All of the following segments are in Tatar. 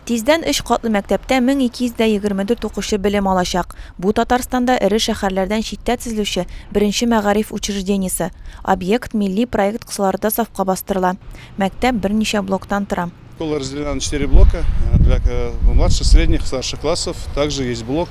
Тиздән өч катлы мәктәптә 1224 укучы белем алачак. Бу Татарстанда эре шәһәрләрдән читтә төзелүче беренче мәгариф учреждениесе. Объект милли проект кысаларында сафка бастырыла. Мәктәп берничә блоктан тора. Школа разделена на четыре блока, для младших, средних, старших классов. Также есть блок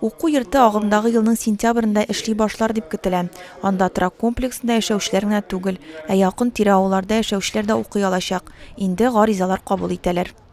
Уку йорты агымдагы елның сентябрендә эшли башлар дип көтелә. Анда торак комплексында яшәүчеләр генә түгел, ә якын-тирә авылларда яшәүчеләр дә укый алачак, инде гаризалар кабул итәләр.